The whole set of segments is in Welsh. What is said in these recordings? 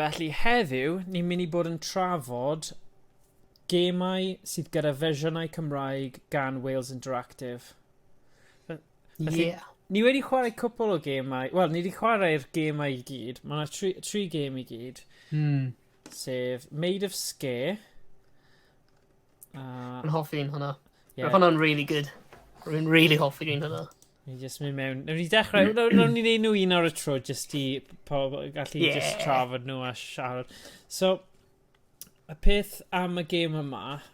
Felly heddiw, ni'n mynd i bod yn trafod gemau sydd gyda fersiynau Cymraeg gan Wales Interactive. Felly, yeah. Ni wedi chwarae cwpl o gemau, wel, ni wedi chwarae'r gemau i gyd, mae yna tri, tri gem i gyd. Hmm. Sef Maid of Scare. Uh, Yn hoffi un hwnna. Yeah. Roedd hwnna'n really good. Rwy'n really hoffi un hwnna. Ni jyst mynd mewn. Nawr ni dechrau, nawr ni wneud nhw un ar y tro, jyst i pob, gallu yeah. jyst trafod nhw a siarad. So, y peth am y gêm yma,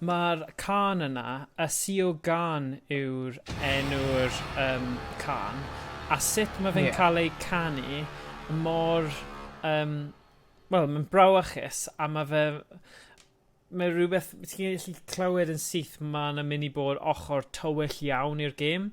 Mae'r cân yna, a Sio Gân yw'r enw'r um, cân, a sut mae fe'n yeah. cael ei canu mor... Um, Wel, mae'n brawachus, a mae fe... Mae rhywbeth... Ti'n gallu clywed yn syth mae yna mynd i bod ochr tywyll iawn i'r gêm.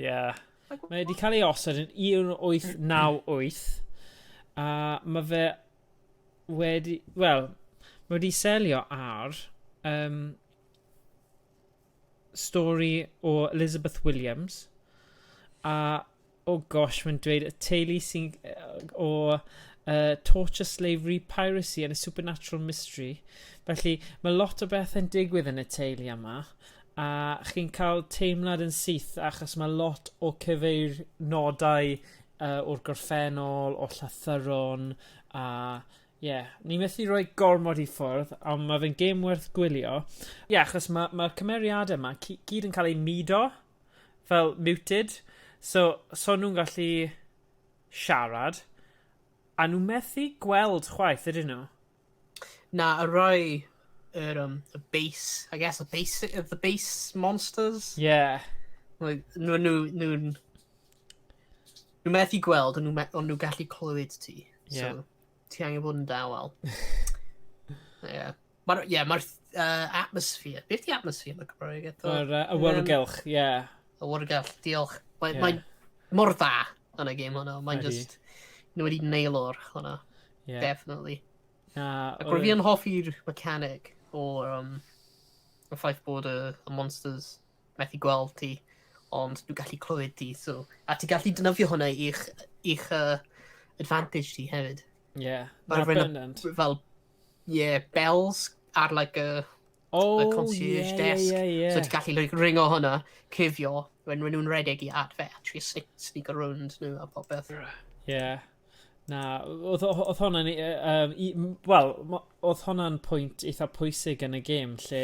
Ie. Mae wedi cael ei osod yn 1898 a ma' fe wedi wel ma' wedi selio ar yym stori o Elizabeth Williams a oh gosh mae'n dweud y teulu sy'n yy o yy torture slavery piracy and a supernatural mystery felly ma' lot o bethe'n digwydd yn y teulu yma a chi'n ca'l teimlad yn syth achos ma' lot o cyfeir- nodau yy o'r gorffennol o'r llythyron a ie ni methu roi gormod i ffwrdd on' ma' fe'n gêm werth gwylio. Ie achos ma' ma'r cymeriade 'ma cy- gyd yn ca'l eu mudo fel muted so so nw'n gallu siarad a nw methu gweld chwaith ydyn nw? Na, y rhai, yr, um, y base, I guess, y base, the base monsters? Yeah. Like, nhw, nhw, nhw, nhw methu gweld, ond nhw, on nhw gallu clywed ti. Yeah. So, ti angen bod yn dawel. yeah. Mae'r, yeah, mae'r uh, atmosphere, beth di atmosphere yn y Cymraeg eto? Mae'r uh, awyrgylch, ie. Yeah. Awyrgylch, diolch. Mae'n yeah. mae mor dda yn y game hwnna, mae'n just, nhw wedi nail o'r hwnna. Yeah. Definitely. Na, Ac roedd fi yn hoffi'r mechanic o'r um, y ffaith bod y, y monsters methu gweld ti, ond dwi'n gallu clywed ti, so... A ti'n gallu dynyddio hwnna i'ch, i'ch uh, advantage ti hefyd. Ie, yeah, na bendant. Fel, ie, yeah, bells ar like a... Oh, a concierge yeah, desk. Yeah, yeah, yeah. So ti'n gallu like, ringo hwnna, cifio, when nhw'n redeg i at fe, actually sneak, sneak around nhw a popeth. Ie. Yeah. Na oedd o- oedd honna'n yy yym i m- wel mo- odd honna'n pwynt eitha pwysig yn y gêm lle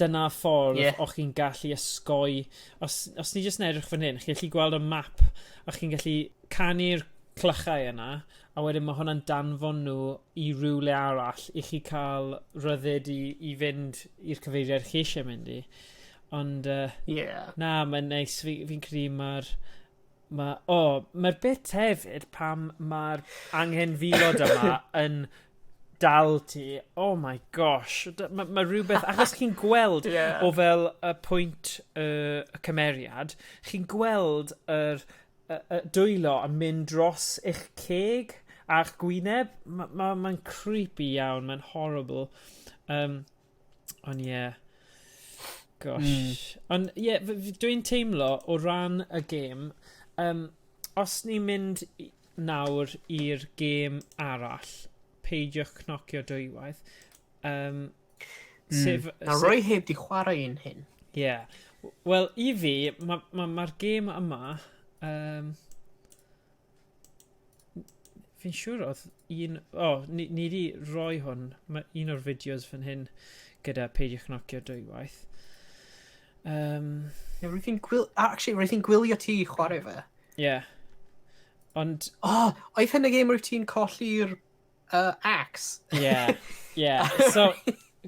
dyna ffordd... Ie. ...o'ch chi'n gallu osgoi os os ni jyst yn edrych fan hyn chi allu gweld y map a chi'n gallu canu'r clychau yna a wedyn ma' hwnna'n danfon nw i rywle arall i chi ca'l rhyddid i i fynd i'r cyfeiriad chi isie mynd i. Ond yy... Ie. ...na mae'n neis fi fi'n credu ma'r Ma' o ma'r bit hefyd pan ma'r anghenfilod yma yn dal ti oh my gosh dy- ma' ma' rwbeth achos chi'n gweld... Ie. ...o fel y pwynt yy y cymeriad chi'n gweld yr yy y dwylo yn mynd dros eich ceg a'ch gwyneb ma' ma' ma'n creepy iawn ma'n horrible yym. Ond ie. Yeah. Gosh. Mm. Ond ie, yeah, dwi'n teimlo o ran y gêm, um, os ni'n mynd nawr i'r gêm arall, peidiwch cnocio dwywaith. Um, mm. sef, Na, sef... roi heb di chwarae un hyn. Ie. Yeah. Wel, i fi, mae'r ma, ma, ma gêm yma... Um, Fi'n siŵr oedd un... O, ni, ni di roi hwn. Mae un o'r fideos fan hyn gyda peidio chnocio dwywaith. Um, yeah, roedd hi'n gwil... Actually, roedd hi'n gwylio ti chwarae fe. Ie. Yeah. Ond... O, oh, oedd hyn y gêm roedd ti'n colli'r uh, axe. Yeah, yeah. So,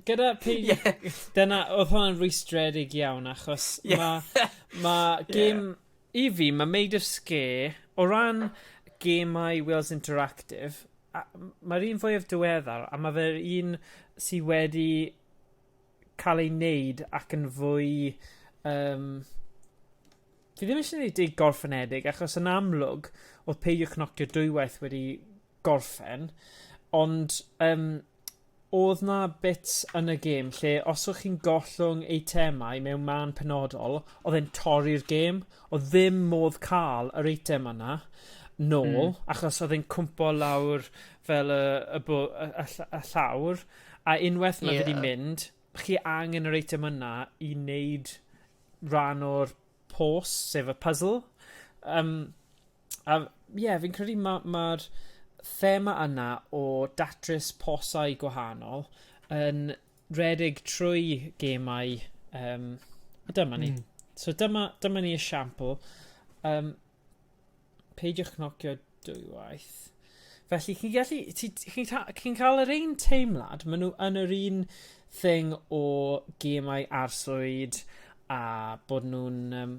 gyda pig... Yeah. Dyna, oedd hwnna'n rwystredig iawn, achos yeah. mae ma gym... Yeah. I fi, mae Made of Scare, o ran gemau Wales Interactive, mae'r un fwyaf diweddar, a mae fe'r un sydd wedi cael ei wneud ac yn fwy... Um, fi ddim eisiau gwneud ei gorffenedig, achos yn amlwg, oedd peidiwch nocio dwywaith wedi gorffen ond yym odd 'na bits yn y gêm lle os o' chi'n gollwng eitemau mewn mân penodol odd e'n torri'r gêm odd ddim modd ca'l yr eitem yna nôl... Hmm. ...achos odd e'n cwmpo lawr fel y y bo- y y ll- y llawr a unweth ma' fe 'di mynd chi angen yr eitem yna i neud ran o'r pos sef y puzzle yym A ie fi'n credu ma' ma'r thema yna o datrys posau gwahanol yn rhedeg trwy gemau yym a dyma ni. Hmm. So dyma dyma ni esiampl yym peidiwch cnocio dwywaith. Felly chi'n gallu ti chi'n ta- chi'n ca'l yr un teimlad ma' nw yn yr un thing o gemau arswyd a bod nw'n yym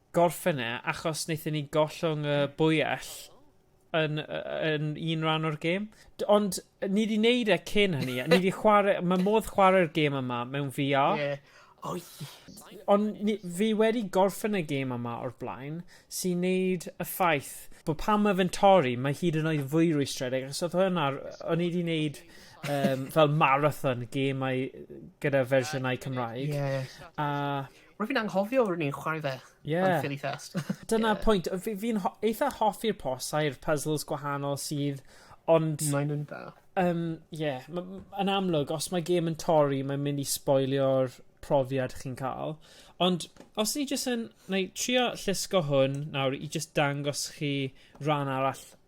gorffen e achos wnaethon ni gollwng y bwyell yn, yn un rhan o'r gêm. Ond ni wedi wneud e cyn hynny. Ni wedi chwarae... Mae modd chwarae'r gêm yma mewn VR. Yeah. Oh, yeah. Ond ni, fi wedi gorffen y gêm yma o'r blaen sy'n neud y ffaith bod pan mae fe'n torri, mae hyd yn oed fwy rwystredig. Ac oedd hwnna, o'n i wedi wneud um, fel marathon gemau gyda fersiynau Cymraeg. Yeah. A Rwy'n fi'n anghofio rwy'n ni'n chwarae fe yeah. yn Philly Fest. Dyna yeah. pwynt. Fi'n fi ho eitha hoffi'r posau'r puzzles gwahanol sydd, ond... Mae'n nhw'n da. Um, yeah, yn amlwg, os mae gêm yn torri, mae'n mynd i spoilio'r profiad chi'n cael. Ond os ni jyst yn... Neu trio llusgo hwn nawr i jyst dangos chi rhan arall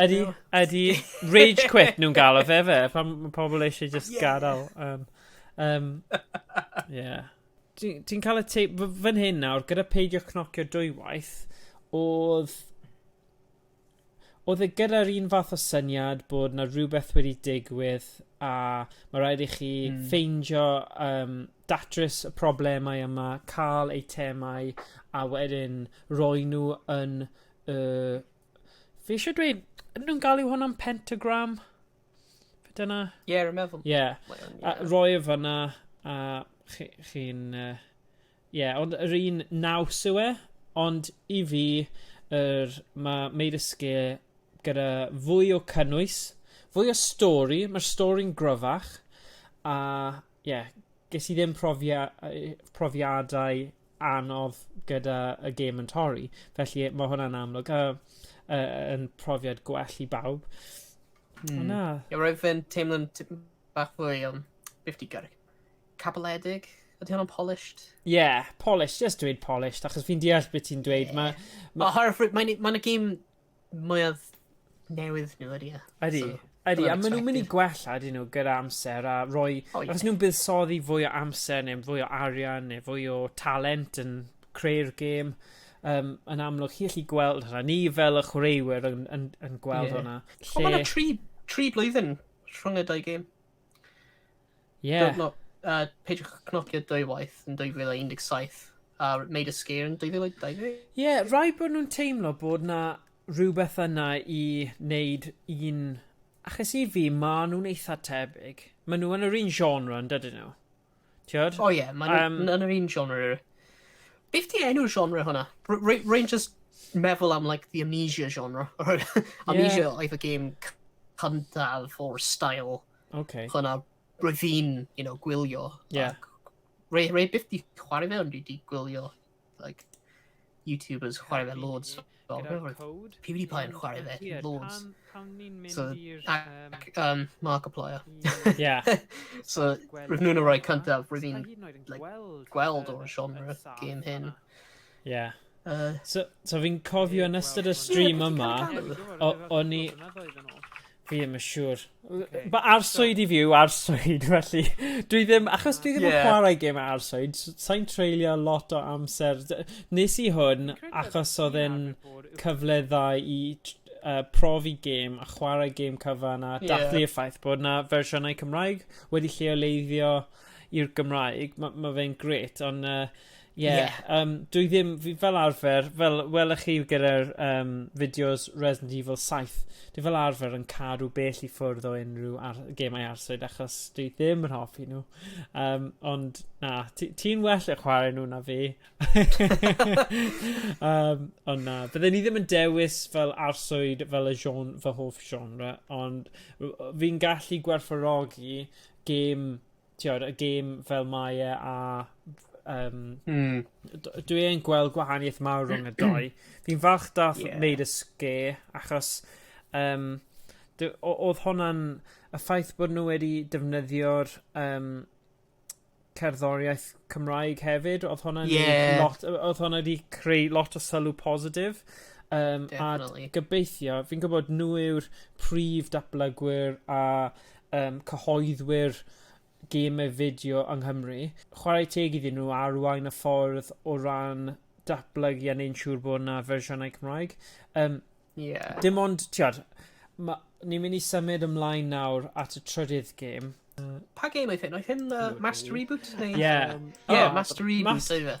Ydy, ydy. Rage quit nhw'n galw fe fe. Pan mae pobl eisiau just yeah. gadael. Um, um, yeah. Ti'n ti cael y teip fan hyn nawr, gyda peidio cnocio dwywaith, oedd... Oedd e gyda'r un fath o syniad bod na rhywbeth wedi digwydd a mae rhaid i chi mm. ffeindio um, datrys y problemau yma, cael eitemau a wedyn roi nhw yn y uh, Fi eisiau dweud, ydyn nhw'n galw hwnna'n pentagram? Dyna... Ie, yeah, rwy'n meddwl. Ie. Yeah. Yeah. Roi e fyna, a chi'n... Chi uh, Ie, yeah, ond yr un naws yw e, ond i fi, er, mae Made of Scare gyda fwy o cynnwys, fwy o stori, mae'r stori'n gryfach, a ie, yeah, ges i ddim profia, profiadau anodd gyda y gêm yn torri felly e- ma' hwnna'n amlwg a yy yn profiad gwell i bawb. Hmm. Na. Ie roedd fe'n teimlo'n tipyn bach fwy yym beth ti'n gyrru? Cabaledig? Ydy hwnna'n polished? Ie, yeah, polished, just dweud polished, achos fi'n deall beth ti'n dweud. Yeah. Mae... Ma... Oherwydd mae'n ma y gêm mwyaf newydd nhw ydy e. Ydy. So, ydy, a maen nhw'n mynd i gwella ydyn nhw gyda amser a roi... Oh, yeah. Os nhw'n buddsoddi fwy o amser neu fwy o arian neu fwy o talent yn creu'r gêm, um, yn amlwg chi allu gweld hwnna. Ni fel y chwaraewyr yn, yn, yn gweld yeah. hwnna. Lle... O, mae yna tri, tri blwyddyn rhwng y dau gêm. Ie. Dw- no, uh, peidiwch â cnocio dwywaith yn 2017 a wneud y sgîr yn 2020. Ie, rai bod nhw'n teimlo bod na rhywbeth yna i wneud un... Achos i fi, ma' nhw'n eitha tebyg. Ma' nhw yn yr un genre, yn dydyn nhw? Tiod? O ie, ma' nhw Yym. yn yr un genre rili. Beth di enw'r genre hwnna? R- Rwy rwy'n just meddwl am like the amnesia genre. amnesia oedd y gêm c- cyntaf o'r style Okay. So na, roedd hi'n, you know, gwylio. Yeah. Rei, rei byth di chwarae fe, ond dwi di gwylio, like, YouTubers chwarae fe loads. PewDiePie yn chwarae fe, loads. So, ac, um, Markiplier. Yeah. so, roedd nhw'n rhoi cyntaf, roedd hi'n, like, gweld o'r genre game hyn. Yeah. Uh, so, so fi'n cofio yn ystod y stream yma, o'n i... Fi ddim yn siŵr. Okay. Mae arswyd so... i fyw, arswyd, felly. Dwi ddim, achos dwi ddim yeah. yn chwarae gym arswyd, sa'n treulio lot o amser. Nes i hwn, achos oedd e'n cyfle dda i uh, profi gêm a chwarae gêm cyfan a yeah. dathlu y ffaith bod yna fersiynau Cymraeg wedi lleoleiddio i'r Gymraeg. Mae ma fe'n gret, ond uh, Ie. Ie. Yym dwi ddim fi fel arfer fel welwch chi gyda'r yym fideos Resident Evil saith dwi fel arfer yn cadw bell i ffwrdd o unrhyw ar- gemau arswyd achos dwi ddim yn hoffi nhw. Yym ond na ti ti'n well at chwarae nhw na fi. Yym ond na bydden i ddim yn dewis fel arswyd fel y gen- fy hoff genre ond w- yy fi'n gallu gwerthfawrogi gêm t'od y gêm fel mae e a yym... Hmm. ...d- dwi yn gweld gwahanieth mawr rhwng y dou. Fi'n falch dath... Ie. ...neud y scare achos yym dy- o- odd honna'n y ffaith bod nw wedi defnyddio'r yym cerddoriaeth Cymraeg hefyd odd honna'n... Ie. ...neud lot o- odd honna 'di creu lot o sylw positif yym... Definately. ...a gobeithio fi'n gwbod nw yw'r prif datblygwyr a um, cyhoeddwyr gemau fideo yng Nghymru. Chwarae teg iddyn nhw arwain y ffordd o ran datblygu a neu'n siŵr bod yna fersiynau Cymraeg. Um, yeah. Dim ond, tiad, ni'n mynd i symud ymlaen nawr at y trydydd gêm. Uh, pa gêm oedd hyn? Oedd hyn uh, Master Reboot? Ie. Yeah. Um, yeah, oh, Master Reboot, Master...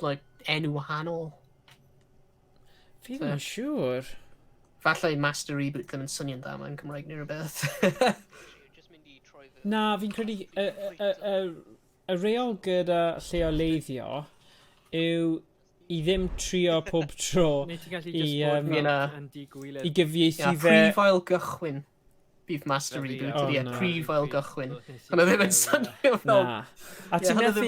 like, enw wahanol. Fi ddim yn siŵr. Falle Master Reboot ddim yn swnio'n dda mae'n Cymraeg neu rhywbeth. Na, fi'n credu y, y, y, y reol gyda lleoleiddio yw i ddim trio pob tro i, um, i gyfieithu fe... Prefail gychwyn. Beef Master reboot, oh, ie, no. prif ail gychwyn. Ond oedd ddim yn swnio fel... Na. A ti'n methu...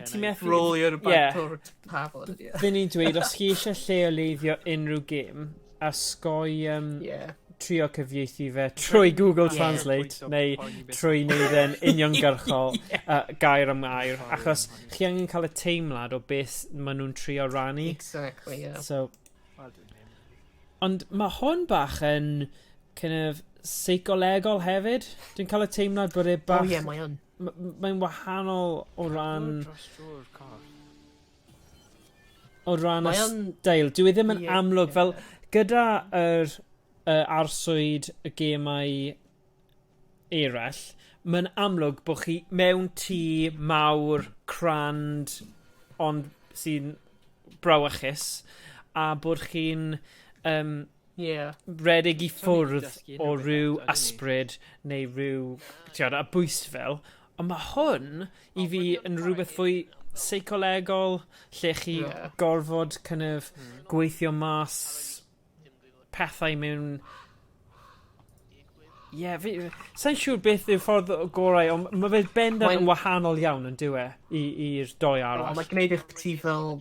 Ti'n methu... Rolio'r bant o'r tafod. Fy ni'n dweud, os chi eisiau lleoleiddio unrhyw gêm, a sgoi um, yeah. trio cyfieithu fe trwy Google Translate yeah. neu trwy wneud e'n uniongyrchol yeah. uh, gair am gair, achos chi angen cael y teimlad o beth maen nhw'n trio rannu. Exactly, yeah. So, Ond mae hwn bach yn kind of seicolegol hefyd. Dwi'n cael y teimlad bod e bach... O ie, mae yn. Mae'n wahanol o ran... O ran y stael. Dwi e ddim yn amlwg fel gyda yr uh, arswyd y gemau eraill, mae'n amlwg bod chi mewn tŷ mawr, crand, ond sy'n brawychus, a bod chi'n um, yeah. redig i ffwrdd o ryw ysbryd neu ryw tiod, a bwys fel. Ond mae hwn i fi yn rhywbeth fwy seicolegol lle chi yeah. gorfod kind of, hmm. gweithio mas pethau mewn... Ie, yeah, fi... Sa'n siŵr beth yw'r ffordd gorau, ond mae fe bendant yn wahanol iawn yn dywe i'r doi arall. Mae'n gwneud eich ti fel...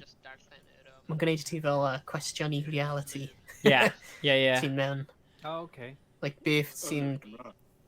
Mae'n gwneud ti fel uh, cwestiwn i reality. Ie, ie, ie. Ti'n mewn. Oh, okay. Like beth sy'n...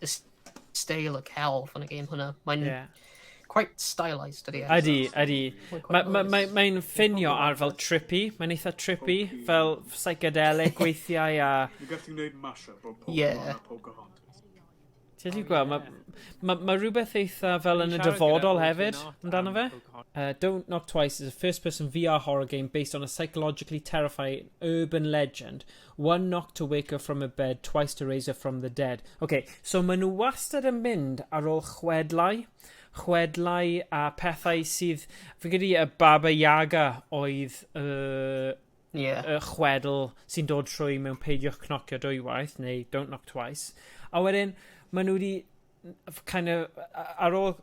y steil y celf yn y game hwnna. Mae'n yeah. quite stylised ydy e. Ydy, ydy. Mae'n ma, ma, ma ffinio ar fel trippy, mae'n eitha trippy, okay. fel psychedelic weithiau a... Mae gallu gwneud mashup o Pokemon yeah. a Pocahontas. Ti'n ti'n gweld, mae ma, ma rhywbeth eitha fel yn y dyfodol hefyd amdano fe. Uh, Don't Knock Twice is a first-person VR horror game based on a psychologically terrifying urban legend One knock to wake her from her bed, twice to raise her from the dead. Ok, so maen nhw wastad yn mynd ar ôl chwedlau, chwedlau a pethau sydd, fi'n credu y Baba Yaga oedd y, yeah. y chwedl sy'n dod trwy mewn peidiwch cnocio dwywaith, neu don't knock twice. A wedyn, maen nhw wedi kind of, ar ôl,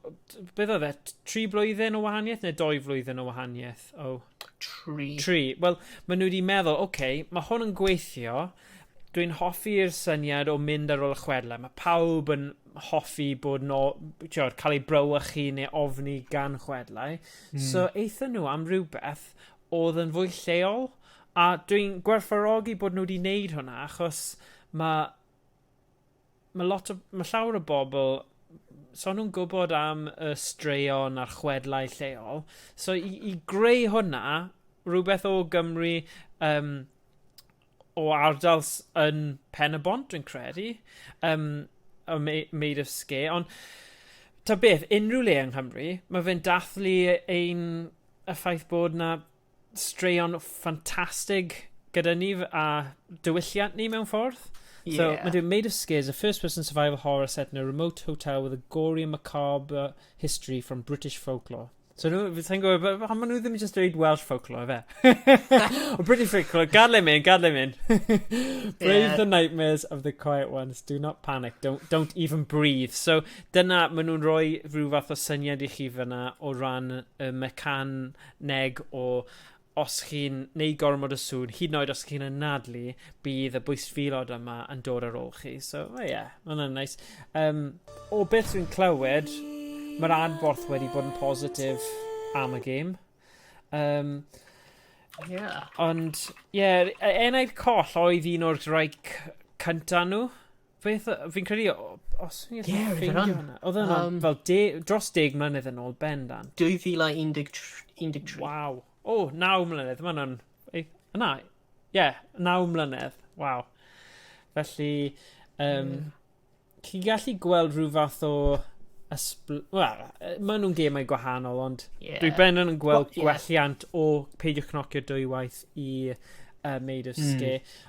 beth oedd e, tri blwyddyn o wahaniaeth neu doi flwyddyn o wahaniaeth? Oh. Tri. Tri. Wel, maen nhw wedi meddwl, oce, okay, mae hwn yn gweithio, dwi'n hoffi'r syniad o mynd ar ôl y chwedle. Mae pawb yn hoffi bod no, tiwod, cael ei brawychu neu ofni gan chwedlau. Mm. So, eitha nhw am rhywbeth oedd yn fwy lleol. A dwi'n gwerthfarogi bod nhw wedi wneud hwnna, achos mae ma' lot o ma' llawer o bobl so nhw'n gwbod am y straeon a'r chwedlau lleol so i i greu hwnna rhywbeth o Gymru yym o ardal s- yn Pen-y-bont dwi'n credu yym o mei- Maid of Sker ond ta beth unrhyw le yng Nghymru ma' fe'n dathlu ein y ffaith bod 'na straeon ffantastig gyda ni f- a diwylliant ni mewn ffordd. Yeah. So, mae'n dweud, Made of Scares, a first-person survival horror set in a remote hotel with a gory and macabre history from British folklore. So, nhw, fi sa'n gwybod, b- pam maen nhw ddim yn just dweud Welsh folklore, fe? o, British folklore, gadle him in, gadle him in. Brave Yeah. the nightmares of the quiet ones, do not panic, don't, don't even breathe. So, dyna, maen nhw'n rhoi rhyw fath o syniad i chi fyna o ran y mecan neg o os chi'n neud gormod o sŵn, hyd yn oed os chi'n anadlu, bydd y bwystfilod yma yn dod ar ôl chi. So, o ie, yeah, ma' hwnna'n neis. Um, o beth dwi'n clywed, mae'r adborth wedi bod yn positif am y gêm. Um, Yeah. Ond, ie, yeah, e- enaid coll oedd un o'r rhai cyntaf nhw. Beth, fi'n credu, os fi'n gallu yeah, ffeindio hwnna. Oedd yna um, fel de, dros deg mlynedd yn ôl ben dan. 2013. Waw. O, oh, naw mlynedd. Mae hwnna'n... Yna, ie, yeah, naw mlynedd. Waw. Felly, um, mm. chi'n gallu gweld rhyw fath o ysbl... Wel, maen nhw'n gemau gwahanol, ond yeah. dwi ben yn gweld well, yeah. gwelliant o peidio cnocio dwywaith i uh, Made of hmm. Scare. Mm.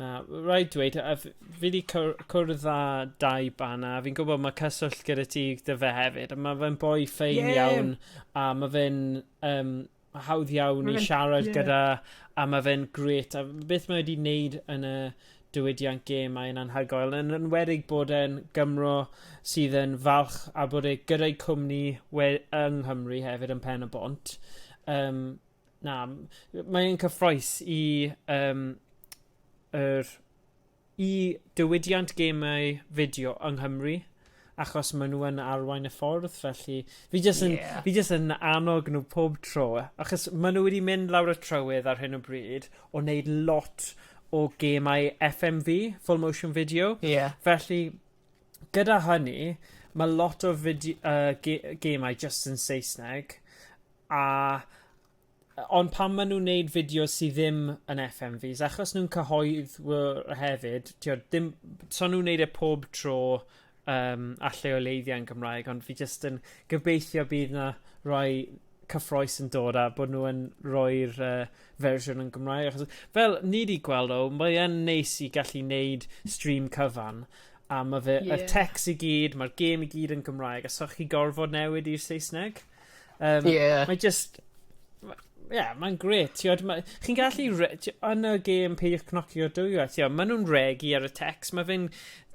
Na, rhaid dweud, a fi wedi cwrdd â dau bana, a fi'n gwybod mae cyswllt gyda ti dy fe hefyd, a mae fe'n boi ffein yeah. iawn, a mae fe'n um, hawdd iawn i siarad yeah. gyda, a mae fe'n gret, a beth mae wedi wneud yn y diwydiant gêm a'n anhygoel, yn enwedig bod e'n Gymro sydd yn falch a bod e gyda'i cwmni we, yng Nghymru hefyd yn pen y bont. Um, Na, mae'n cyffroes i um, yr, i diwydiant gemau fideo yng Nghymru achos maen nhw yn arwain y ffordd, felly fi jyst yn, yeah. fi jyst yn annog nhw pob tro, achos maen nhw wedi mynd lawr y trywydd ar hyn o bryd o wneud lot o gemau FMV, full motion video, yeah. felly gyda hynny, mae lot o fideo, uh, ge gemau just yn Saesneg, A yy ond pan ma' nw'n neud fideos sy ddim yn FMVs achos nw'n cyhoeddwr hefyd t'od dim so nw'n neud e pob tro yym a lleoleiddio yn Gymraeg ond fi jyst yn gobeithio bydd 'na rai cyffrous yn dod a bod nw yn roi'r yy fersiwn yn Gymraeg achos fel ni 'di gweld o mae yn neis i gallu neud stream cyfan a ma' fe... Ie. ...y tecs i gyd ma'r gêm i gyd yn Gymraeg a so chi gorfod newid i'r Saesneg. Um, yeah. Mae just... Ie, yeah, mae'n gret. Chi'n gallu... Yn y gêm peidiwch cnocio dwyo, maen nhw'n regi ar y text. Mae fe'n...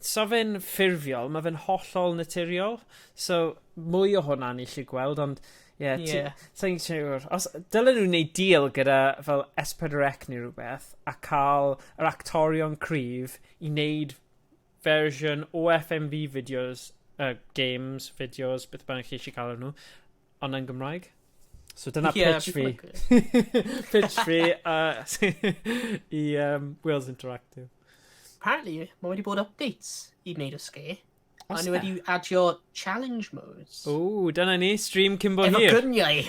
So fe'n ffurfiol, mae fe'n hollol naturiol. So, mwy o hwnna ni chi gweld, ond... Ie, yeah, yeah. ti'n siŵr. Os, dylen nhw'n neud deal gyda fel S4C neu rhywbeth, a cael yr actorion cryf i wneud fersiwn o FMV videos, uh, games, videos, beth bynnag chi eisiau cael nhw, ond yn Gymraeg. So dyna yeah, pitch fi. pitch fi uh, i um, Wales Interactive. Apparently, mae wedi bod updates i wneud y sge. A ni wedi adio challenge modes. O, dyna ni, stream cyn bo hir. Efo gyniau.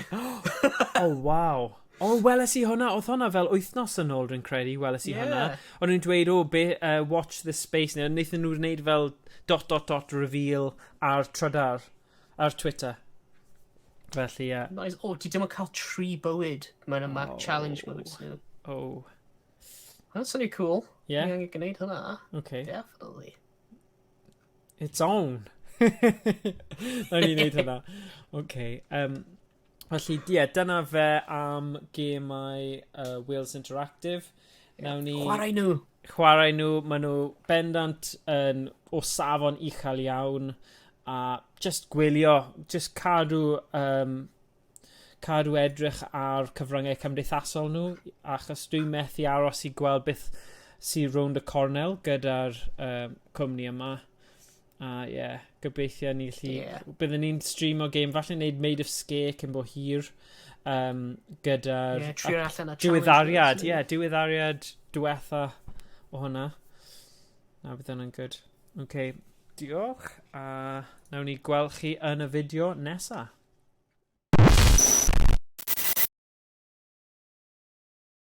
oh, wow. O weles i hwnna o'dd hwnna fel wythnos yn ôl rwy'n credu weles i hwnna. Ie. O'n nw'n dweud o be' yy watch this space ne' naethon nw wneud fel dot dot dot reveal ar Trydar ar Twitter. Felly ie. Nice. O ti dim yn ca'l tri bywyd mewn y Mac Challenge modes nw. O. Hwnna'n swnio cŵl. Ie. Ni angen gneud hwnna. Oce. Definitely. It's on. Nawn ni neud hwnna. Oce yym Felly, ie, yeah, dyna fe am gemau uh, Wales Interactive. Yeah. Nawn ni... Chwarae nhw! Chwarae nhw, maen nhw bendant yn o safon uchel iawn a just gwylio, just cadw, um, cadw edrych ar cyfryngau cymdeithasol nhw achos dwi'n methu aros i gweld beth sy'n rownd y cornel gyda'r um, cwmni yma. A uh, ie, yeah, gobeithio ni gallu... Yeah. Byddwn ni'n stream o game, falle wneud Made of Scare cyn bo hir um, gyda'r... Yeah, trio allan a Diweddariad, ie, yeah, diweddariad diwetha o hwnna. Na, bydd hwnna'n good. Oce, okay, diolch. A uh, nawn ni gweld chi yn y fideo nesaf.